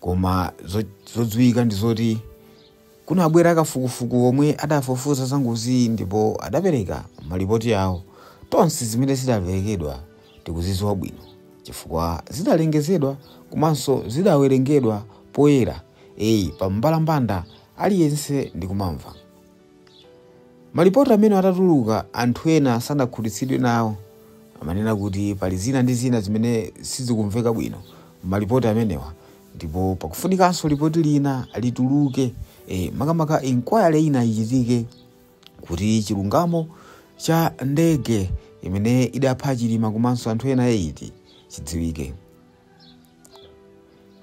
koma zodziwika ndi zoti kunabwera kafukufuku omwe adafufuza za ngoziyi ndipo adapereka malipoti awo tonse zimene zidaperekedwa tikuzidziwa bwino chifukwa zidalengezedwa komanso zidawerengedwa poyera pa mbalambanda aliyense ndikumamva Malipoti amenewa atatuluka, anthu ena sanakhutitsidwe nawo. Amanena kuti pali zina ndi zina zimene sizikumveka bwino m'malipoti amenewa ndipo pakufunikanso lipoti lina lituluke, e, makamaka inquiry ina ichitike kuti chilungamo cha ndege imene idapha Chilima komanso anthu ena 8 chidziwike.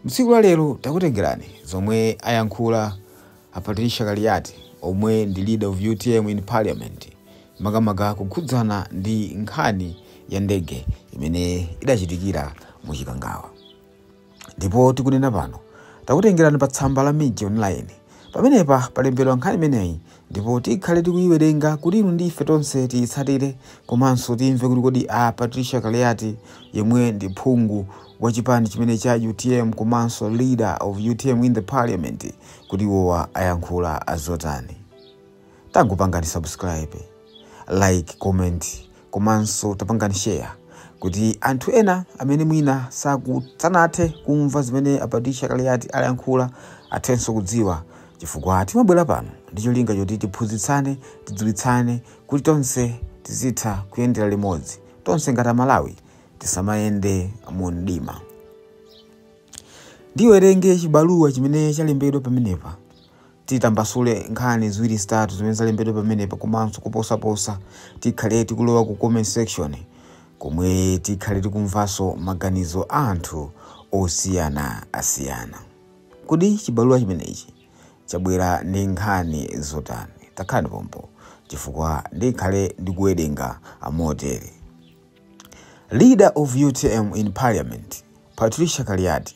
Mtsiku la lero takutengerani zomwe ayankhula a Patricia Kaliati omwe ndi leader of utm in parliament makamaka kukhudzana ndi nkhani ya ndege imene idachitikira mu Chikangawa. Ndipo tikunena pano takutengerani pa tsamba la Mij Online. Pamenepa palembedwa nkhani imeneyi ndipo tikhale tikuyiwerenga kuti inu ndi ife tonse tiyitsatire komanso timve kuti kodi a Patricia Kaliati yemwe ndi phungu wa chipani chimenechi cha utm komanso leader of utm in the parliament kuti iwowa ayankhula azotani tangopangani subscribe like comment komanso tapangani share kuti anthu ena amene mwina sanathe kumva zimene a Patricia Kaliati ayankhula athenso kudziwa chifukwa timabwera pano ndi cholinga choti tiphunzitsane tidziwitsane kuti tonse tizitha kuyendera limodzi tonse ngati amalawi tisamayende mu mdima ndiwerenge chibaluwa chimene chalembedwa pamenepa titambasule nkhani ziwiri zitatu zimene zalembedwa pamenepa komanso kuposaposa tikhale tikulowa ku comment section komwe tikhale tikumvanso maganizo a anthu osiyanasiyana kodi chibaluwa chimenechi chabwera ndi nkhani zotani takhalani pompo chifukwa ndikhale ndikuwerenga amotere leader of utm in parliament patricia kaliati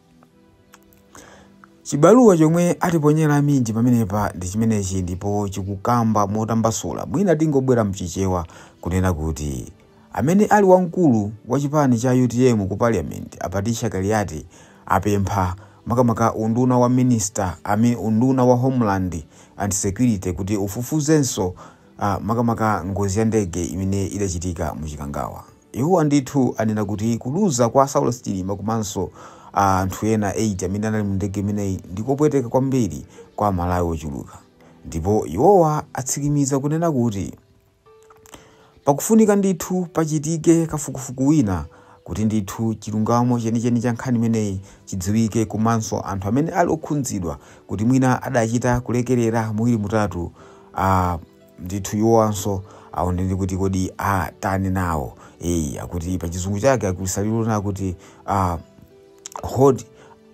Chibaluwa chomwe atiponyera a Mij pamenepa ndi chimenechi ndipo chikukamba motambasula mwina tingobwera mchichewa kunena kuti amene ali wamkulu wa chipani cha utm ku parliament a Patricia Kaliati apempha makamaka unduna wa minister I mean unduna wa homeland and security kuti ufufuzenso a makamaka ngozi ya ndege imene idachitika mu Chikangawa. Iwowa ndithu anena kuti kuluza kwa Saulos Chilima komanso a anthu ena 8 amene anali mu ndege imeneyi ndi kopweteka kwambiri kwa Amalawi ochuluka. Ndipo iwowa atsimikiza kunena kuti pakufunika ndithu pachitike kafukufuku wina kuti ndithu chilungamo chenicheni cha nkhani imeneyi chidziwike komanso anthu amene ali okhudzidwa kuti mwina adachita kulekerera muwiri mutatu Ah, ndithu iwowanso aonedwe kuti kodi atani nawo eyi akuti pa chizungu chake akuchita kunena kuti ah, hold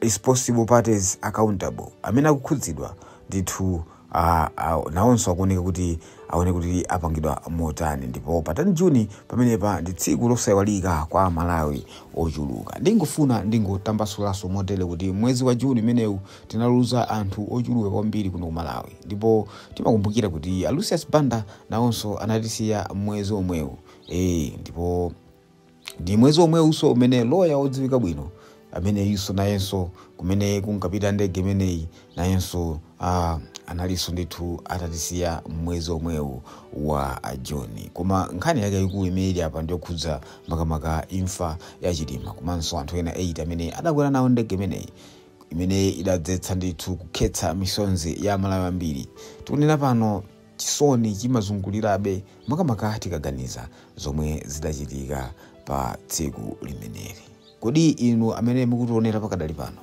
responsible parties accountable amene akukhudzidwa ndithu ah, ah, nawonso akuoneka kuti aone kuti apangidwa motani ndipo pa 10 juni pamenepa ndi tsiku losaiwalika kwa amalawi ochuluka ndingofuna ndingotambasulanso motere kuti mwezi wa juni umenewu tinaluza anthu ochuluka kwambiri kuno ku malawi ndipo timakumbukira kuti a lucius banda nawonso anatisiya mwezi omwewu e, ndipo ndi mwezi omwewuso umene loya wodziwika bwino ameneyinso nayenso kumene kunkapita ndege imeneyi nayenso ah, analinso ndithu atatisiya mwezi omwewu wa juni koma nkhani yake ikulu imene ili apa ndiyokhudza makamaka imfa ya chilima komanso anthu ena 8 amene adakwera nawo ndege imeneyi imene idadzetsa ndithu kukhetsa misonzi ya amalawi ambiri tikunena pano chisoni chimazungulirabe makamaka tikaganiza zomwe zidachitika pa tsiku limeneli kodi inu amene mukutionera pakadali pano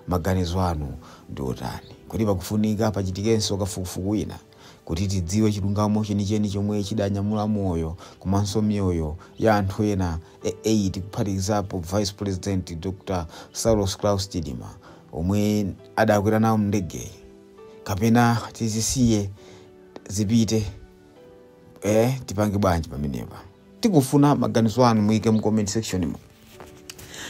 maganizo anu ndi otani kodi pakufunika pachitikenso kafukufuku wina Kuti tidziwe chilungamo chenicheni chomwe chidanyamula moyo komanso miyoyo ya anthu ena 8 kuphatikizapo Vice President Dr Saulos Klaus Chilima omwe adakwera nawo m'ndegeyi kapena tizisiye zipite eh, tipange bwanji pamenepa? Tikufuna maganizo anu, muike mu comment section mu.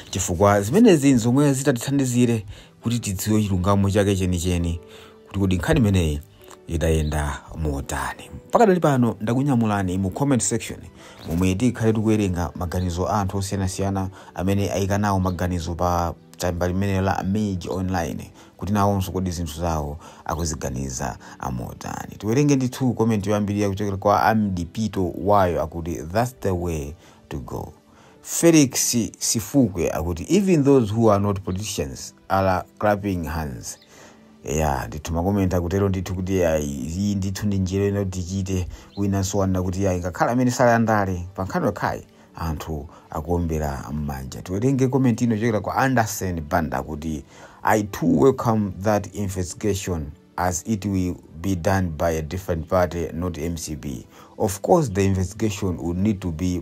chifukwa zimenezi nzomwe zitatithandizire kuti tidziwe chilungamo chake chenicheni kuti kodi nkhani imeneyi idayenda motani pakadali pano ndakunyamulani mu comment section momwe tikhale tikuwerenga maganizo a anthu osiyanasiyana amene ayika nawo maganizo pa tsamba limene la mage online kuti nawonso kodi zinthu zawo akuziganiza motani tiwerenge ndithu komenti yoyambirira kuchokera kwa amdipito wayo akuti thats the way to go Felix Sifukwe akuti even those who are not politicians are clapping hands ya ndithu makomenti akutero ndithu kuti ayi iyi ndithu ndi njira ina kuti tichite wina so wanena kuti ayi ngakhale amene sali a ndale pa nkhani yokhayi anthu akuombera m'manja tiwerenge komenti ino yochokera kwa anderson banda kuti i too welcome that investigation as it will be done by a different party not mcp of course the investigation would need to be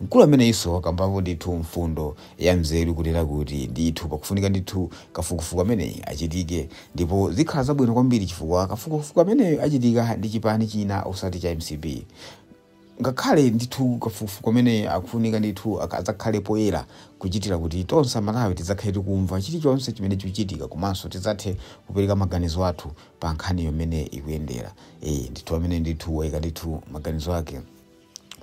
Mkulu ameneyunso wakambapo ndithu mfundo ya nzeru kunena kuti ndithu pakufunika ndithu kafukufuku ameneyi achitike ndipo zikhala zabwino kwambiri chifukwa kafukufuku ameneyu achitika ndi chipani china osati cha mcp ngakhale ndithu kafukufuku ameneyi akufunika ndithu azakhale poyera kuchitira kuti tonse amalawi tidzakhale tikumva chilichonse chimene chikuchitika komanso tidzathe kupereka maganizo athu pa nkhani mmene ikuyendera ee ndithu amene ndithu waika ndithu maganizo ake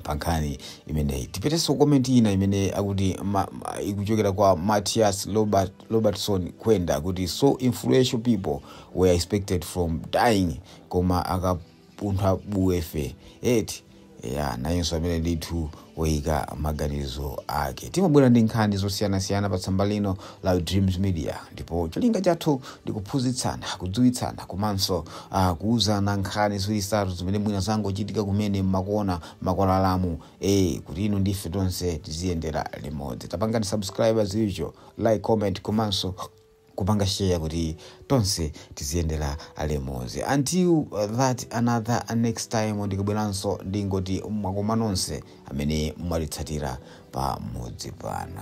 pa nkhani imeneyi tipitenso ku komenti ina imene akuti ma, ma, ikuchokera kwa matias robert, robertson kwenda kuti so influential people were expected from dying koma akapuntha buye ife eti ya nayenso amene ndithu woyika maganizo ake timabwera ndi nkhani zosiyanasiyana pa tsamba lino la Dreams Media ndipo cholinga chathu ndi kuphunzitsana, kudziwitsana komanso uh, kuuzana nkhani ziwiri zitatu zimene mwina zangochitika kumene mmakona makwalalamu eh kuti inu ndife tonse tiziyendera limodzi. Tapangani subscribe ziri choncho, like, comment komanso kupanga share kuti tonse tiziyendera limodzi. Until uh, that another uh, next time ndikubweranso ndingoti mwakoma nonse amene mwatitsatira pamodzi pano.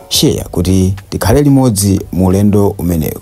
Share kuti tikhale limodzi mu ulendo umenewu.